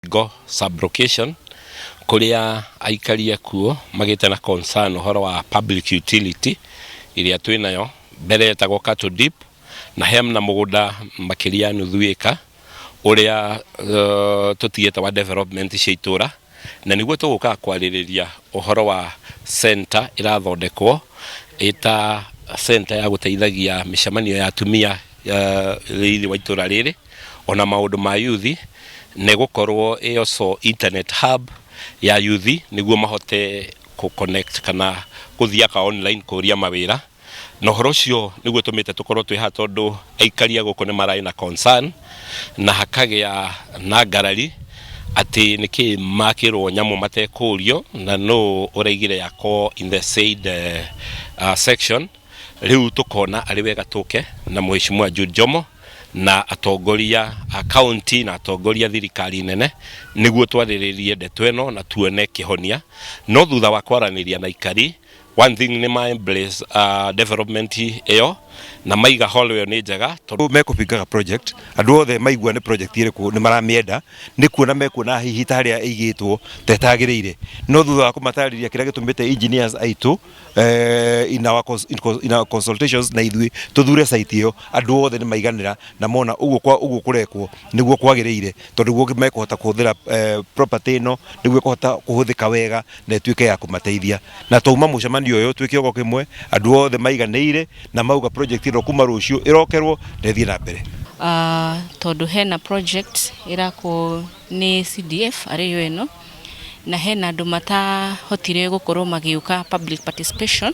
Ngo sub-location kũrĩa aikari akuo magĩte na concern ũhoro wa public utility ĩrĩa twĩnayo mbere yetagwo cattle dip na hena mũgũnda makĩria ya nuthu ĩka ũrĩa tũtigĩte wa development cia itũra na nĩguo tũgũkaga kwarĩrĩria ũhoro wa center ĩrathondekwo ĩta center ya gũteithagia mĩcemanio ya atumia. thĩinĩ wa itũra rĩrĩ ona maũndũ ma yuthi nĩ gũkorwo ĩyo so internet hub ya yuthi nĩguo mahote kũ connect kana gũthiaga online kũria mawĩra na ũhoro ũcio nĩguo tũmĩte tũkorwo twĩ haha tondũ aikari a gũkũ nĩ mararĩ na concern na hakagĩa na ngarari atĩ nĩkĩ makĩrwo nyamũ matekũrio na nũ ũraigire yakwo in the said uh, section Rĩu tũkona arĩ wega tũke na Mheshimiwa Jude Jomo na atongoria a kaunti na atongoria thirikari nene nĩguo twarĩrĩrie ndeto ĩno na tuone kĩhonia. No thutha wa kwaranĩria na aikari, one thing nĩ ma embrace uh, development ĩyo na maiga hall ĩyo nĩ njega tondũ mekũbingaga project andũ othe maigua nĩ project ĩrĩkũ nĩ maramĩenda nĩ kuona mekuona hihi ta harĩa ĩigĩtwo ta ĩtagĩrĩire no thutha wa kũmatarĩria kĩrĩa gĩtũmĩte engineers aitũ eh, in our cons- in cons- in our consultations na ithuĩ tũthure site ĩyo andũ othe nĩ maiganĩra na mona ũguo kwa ũguo kũrekwo nĩguo kwagĩrĩire tondũ guo mekũhota kũhũthĩra eh, property ĩno nĩguo kũhota kũhũthĩka wega na ĩtuĩke ya kũmateithia na twauma mũcemanio ũyũ twĩ kĩogo kĩmwe andũ othe maiganĩire na mauga project ĩno kuma rũciũ ĩrokerwo na ĩthiĩ na mbere Ah, tondũ hena project ĩrakwo nĩ CDF arĩ yo ĩno na hena andũ matahotire gũkorwo magĩũka public participation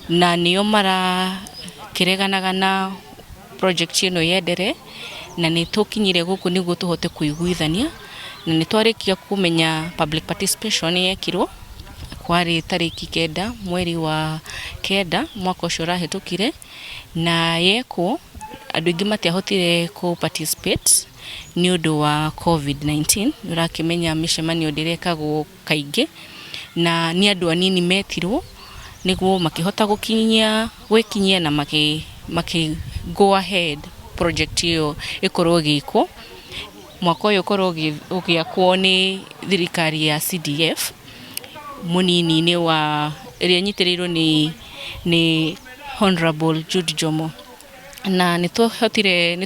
na nĩo marakĩreganaga na project ĩno yendere na nĩ tũkinyire gũkũ nĩguo tũhote kũiguithania na nĩ twarĩkia kũmenya public participation nĩ yekirwo kwarĩ tarĩki kenda mweri wa kenda mwaka ũcio ũrahĩtũkire. Na yekwo andũ aingĩ matiahotire kũ participate nĩ ũndũ wa Covid 19. Nĩ ũrakĩmenya mĩcemanio ndĩrekagwo kaingĩ na nĩ andũ anini metirwo nĩguo makĩhota gũkinyia gwĩkinyia na makĩ go ahead project ĩyo ĩkorwo ĩgĩkwo. mwaka ũyũ ũkorwo ũgĩakwo nĩ thirikari ya CDF mũnini-inĩ wa ĩrĩa ĩnyitĩrĩirwo nĩ nĩ Hon'rable Jude Njomo, na nĩ twahotire nĩ